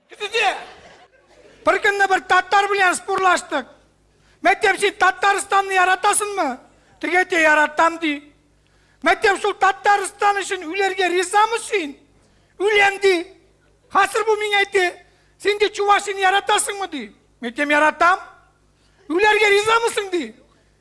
Битиде. Бер көнне бер татар белән спорлаштык. Мәктәп син Татарстанны яратасыңмы? Теге әйтә яратам ди. Мәктәп шул Татарстан өчен үләргә ризамы син? Үләм ди. Хәзер бу миңа әйтте. Син ди Чувашияны яратасыңмы ди. Мәктәп яратам. Үләргә ризамысың ди.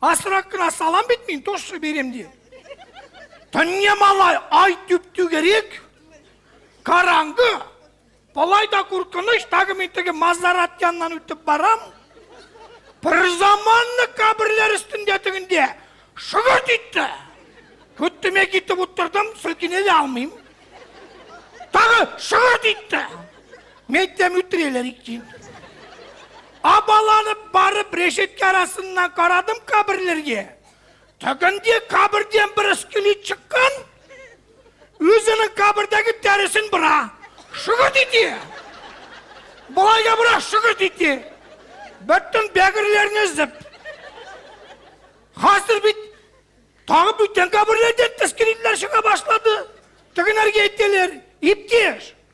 Асрак кына салам бит мин, тоже берем ди. Төнне малай ай түп түгерек, караңгы, Болай да куркыныч, тагы мин теге Мазарат яннан үтеп барам. Бер заманны каберләр өстендә тегендә шыгырт итте. Көттеме китеп утырдым, сөлкене дә алмыйм. Тагы шыгырт итте. Мәйтәм, үтерәләр икән. Абаланып барып, рәшәткә арасыннан карадым каберләргә. Тегенде кабердән бер скелет чыккан, үзенең кабердәге тәресен бора. Шөгерт итә. Болайга бора, шөгерт итә. Бөтен бәгырьләрне зып. Хәзер бит тагы бүтән каберләрдән скелетлар чыга башлады. Тегенәргә әйтәләр, иптәш,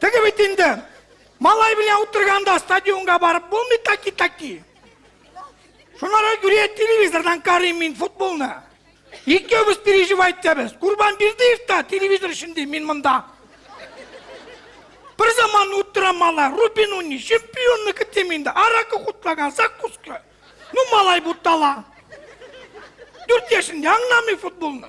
Теге бит инде. Малай белән утырганда стадионга барып булмый таки-таки. Шунара күрә телевизордан карыйм мин футболны. Икебез переживай итәбез. Курбан Бердыев та телевизор эчендә, мин монда. Бер заман утыра малай, Рубин уни, чемпионны көтем инде. Аракы кутлаган, закуска. Ну, малай бутала. Дүрт яшендә аңламый футболны.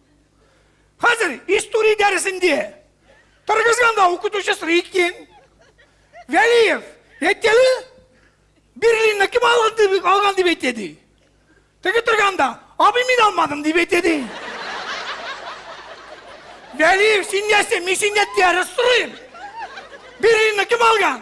Хәзер история дәресендә торгызганда укытучы сорый икән. Вәлиев, әйткәле, Берлинны кем алган дип, алган дип әйтә ди. Теге торганда, абый мин алмадым дип әйтә ди. Вәлиев, син нәрсә, мин синнән дәрес сорыйм. Берлинны кем алган?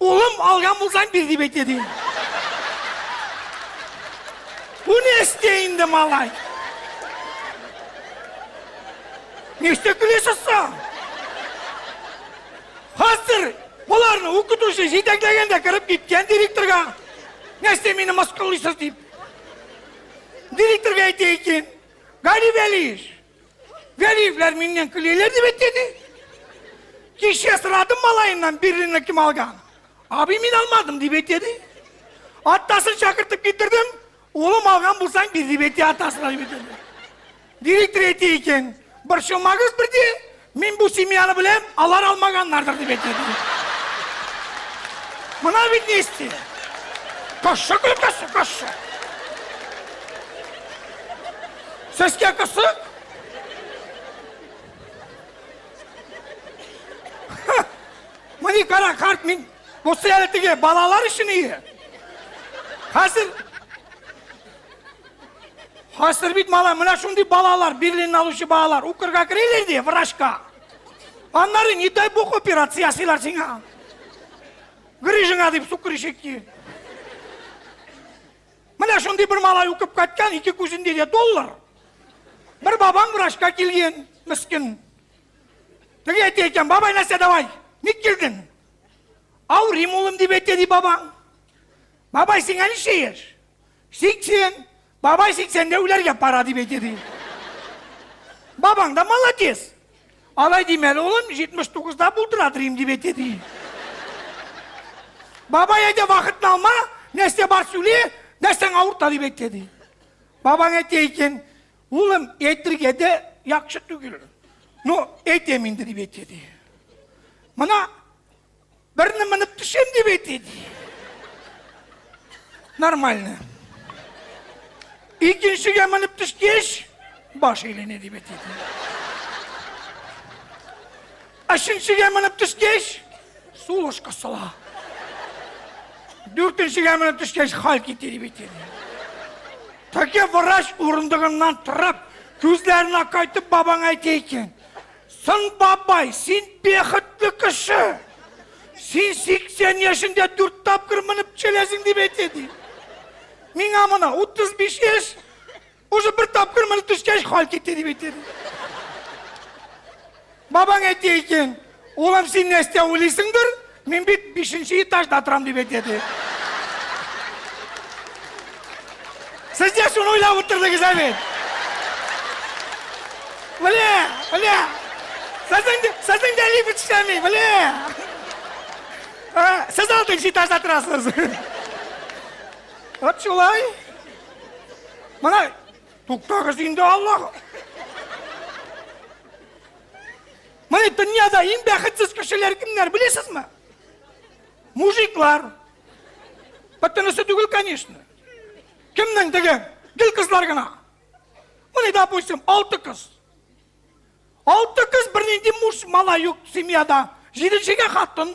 Улым, алган булсаң бир дип әйтә, ди. Бу не эсте инде, малай? Ништә көлесез соң? Хәзер боларны укытучы җитәкләгәндә кереп киткән директорга. Нәрсә мине мыскыллыйсыз дип. Директорга әйтә икән. Гали Вәлиевич, Гәрифләр миннән көләләр дип әйтте. Кичә сорадым малаеннан бирренне кем алган. Аби мин алмадым дип әйтте. Атасын чакыртып китердем. Улым алган булсаң бир дип әйтте атасына дип әйтте. Директор әйтте икән. Борчылмагыз берди. Мин бу семьяны беләм, алар алмаганнардыр дип әйтә. Мына бит ни исти. Кошчы көлеп торсын, кошчы. Сезгә кысык? Мыни кара карт мин Бусы әле теге балалар өчен ие. Хәзер Хәзер бит малай, менә шундый балалар, Берлин алучы балалар, укырга керәләр ди, врачка. Аннары, не дай бог, операция ясыйлар сиңа. Грыжыңа дип сукырышып ки. Менә шундый бер малай укып кайткан, ике күзендә дә доллар. Бер бабаң врачка килгән, мискин. Теге әйтә икән, бабай нәрсә давай, ник килдең? Авырыйм улым дип әйтә ди бабаң. Бабай сиңа ничә яшь? Сиксен! Бабай сиксәндә үләргә пара дип әйтә ди. Бабаң да молодец. Алай димәле, улым, 79-да булдыра торыйм дип әйтә ди. Бабай әйтә, вакытны алма, нәрсә бар сүле, нәрсәң авырта дип әйтә ди. Бабаң әйтә икән, улым, әйтергә дә яхшы түгел. Ну, әйтәм инде дип әйтә ди. Мына Берне менеп төшем дип әйтте. Нормально. Икенчегә менеп төшкәч, баш әйләнә дип әйтте. Өченчегә менеп төшкәч, сулыш кысыла. Дүртенчегә менеп төшкәч, хал китте дип әйтте. Тәке врач урындыгыннан торып, күзләренә кайтып бабаң әйтә икән. Соң, бабай, син бехетле кеше! Син 80 яшендә дүрт тапкыр менеп төшәләсең дип әйтә, ди. Миңа мына 35 яшь, уже бер тапкыр менеп төшкәч, хал китте дип әйтә, ди. Бабаң әйтә икән, улым, син нәрсә уйлыйсыңдыр, Мин бит бишенче этажда торам дип әйтәде. Сез дә шуны уйлап утырдыгыз ә бит? Бля, бля. Сезнең дә, сезнең дә лифт эшләми, бля. Ә, сез алтынчы этажда торасыз. Вот шулай. Мына туктагыз инде Аллах. Менә дөньяда иң бәхетсез кешеләр кемнәр, беләсезме? Мужиклар. Бөтенесе түгел, конечно. Кемнең теге? Гел кызлар гына. Менә, допустим, алты кыз. Алты кыз бернинди муж, мала юк семьяда. Җиденчегә хатын.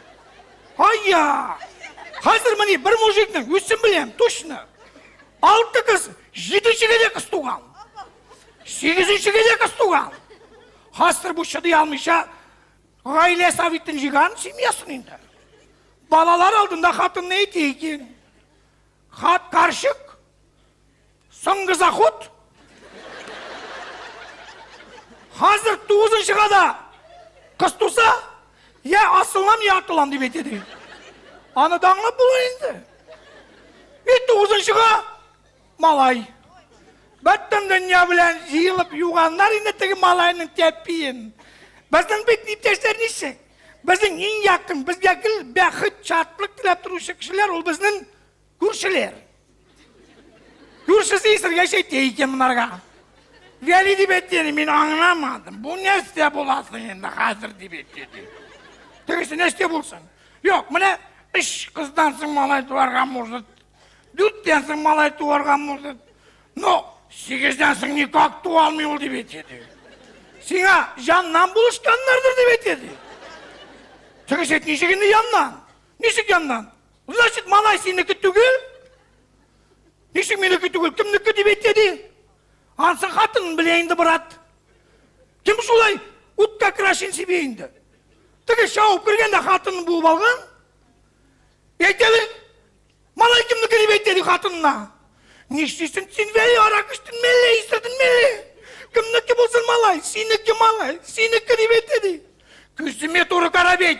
Айя! Хәзер мени бер мужикның үсен беләм, точно. Алты кыз, җиде җигедә кыз туган. Сигезенче генә кыз туган. Хәзер бу чыдый алмыйча гаилә советын җыйган семьясын инде. Балалар алдында хатынны әйтә икән. Хат карчык Соңгы заход. Хәзер тугызынчыга да кыз туса, я асылам, я атылам дип әйтә ди. Аны да аңлап була инде. И тугызынчыга малай. Бөтен дөнья белән җыелып юганнар инде теге малайның тәпиен. Безнең бит иптәшләр ничек? Безнең иң якын, безгә гел бәхет, шатлык теләп торучы кешеләр ул безнең Күршеләр. Күршесе исергәч әйтә икән монарга. Вәли дип әйткәне мин аңламадым. Бу нәрсә буласың инде хәзер дип әйтте ди. Тегесе нәрсә булсын? Юк, менә өч кыздан соң малай туарга может. Дүрттән соң малай туарга может. Ну, сигездән соң никак туа алмый ул дип әйтте ди. Сиңа җаннан булышканнардыр дип әйтте ди. Тегесе әйтте, ничек инде яннан? Ничек яннан? Значит, малай синеке түгел? Ничек минеке түгел? Кемнеке дип әйтә ди? Ансы хатынын белә инде, брат. Кем шулай утка крашин сибә инде? Теге шауып кергәндә хатынын буып алган. Әйтәле, малай кемнеке дип әйтә ди хатынына. Нишлисен син вәли арак эчтен мәллә исерден мәллә? Кемнеке булсын малай? Синеке малай, синеке дип әйтә ди. Күземә туры кара бит.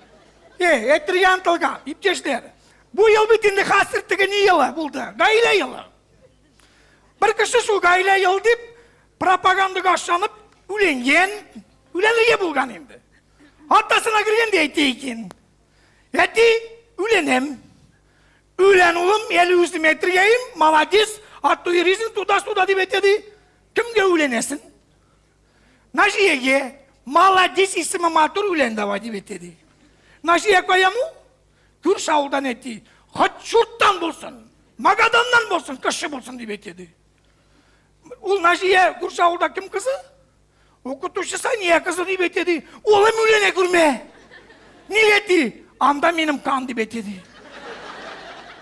Эй, әйтер янтылга, иптәшләр. Бу ел бит инде хәзер теге ни елы булды? Гаилә елы. Бер кеше шул гаилә ел дип пропагандага ашанып үленгән, үләнлеге булган инде. Атасына кергәндә әйтә икән. Әти, үләнем. Үлән улым, әле үзем әйтергәем, молодец, ат туйризм туда-суда дип әйтә ди. Кемгә үләнәсең? Наҗия е, маладис исеме матур үлән давай дип әйтә ди. Наҗия каяму? Күрше авылдан әти, хат чурттан булсын, Магаданнан булсын, кеше булсын дип әйтә ди. Ул Наҗия күрше авылда кем кызы? Укытучы Сания кызы дип әйтә ди. Улым үләне күрмә. Нигә ди? Анда минем кан дип әйтә ди.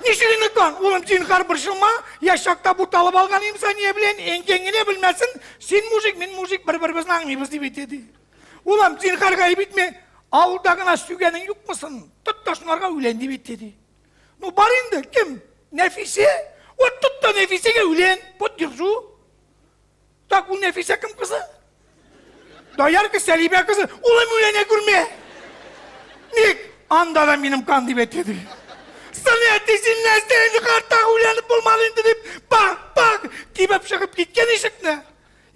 Ничек инде кан? Улым, зинһар борчылма, яшь чакта буталып алган имзания белән әнкәң генә белмәсен, син мужик, мин мужик, бер-беребезне аңлыйбыз дип әйтә ди. Улым, зинһар гаеп итмә, авылда гына сөйгәнең юкмысын? Тот та шунарга үлән дип әйтә ди. Ну бар инде, кем? Нәфисә? Вот тот та Нәфисәгә үлән, поддержу. Так ул Нәфисә кем кызы? Доярка Сәлибә кызы. Улым үләнә күрмә. Ник? Анда да минем кан дип әйтеде. Сыны әтисен нәрсә инде картак үләнеп булмады инде дип бак бак тибеп чыгып киткән ишекне.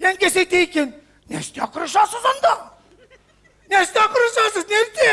Янкәс әйтә икән. Нәрсә кырышасыз анда? Нәрсә кырышасыз? Нәрсә?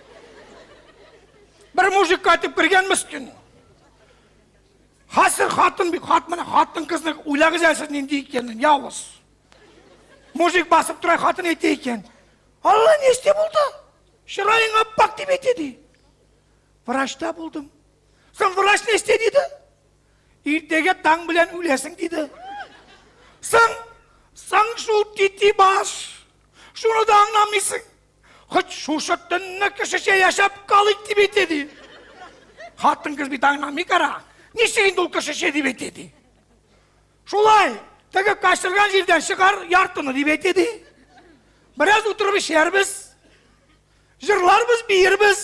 Бер мужик кайтып кергән мискин. Хәзер хатын бик хат менә хатын кызны уйлагыз әле сез нинди икәнен, явыз. Мужик басып тора хатын әйтә икән. Алла ни эште булды? Чыраең аппак дип әйтә ди. Врачта булдым. Соң врач ни эште диде? Иртәгә таң белән үләсең диде. Соң соң шул тити баш. Шуны да аңламыйсың. Хоть шушы төнне кешечә яшәп калыйк дип әйтә, ди. Хатын-кыз бит аңламый кара. Ничек инде ул кешечә дип әйтә, ди. Шулай, теге качырган җирдән чыгар яртыны дип әйтә, ди. Бераз утырып эчәрбез. Җырларбыз, биербез.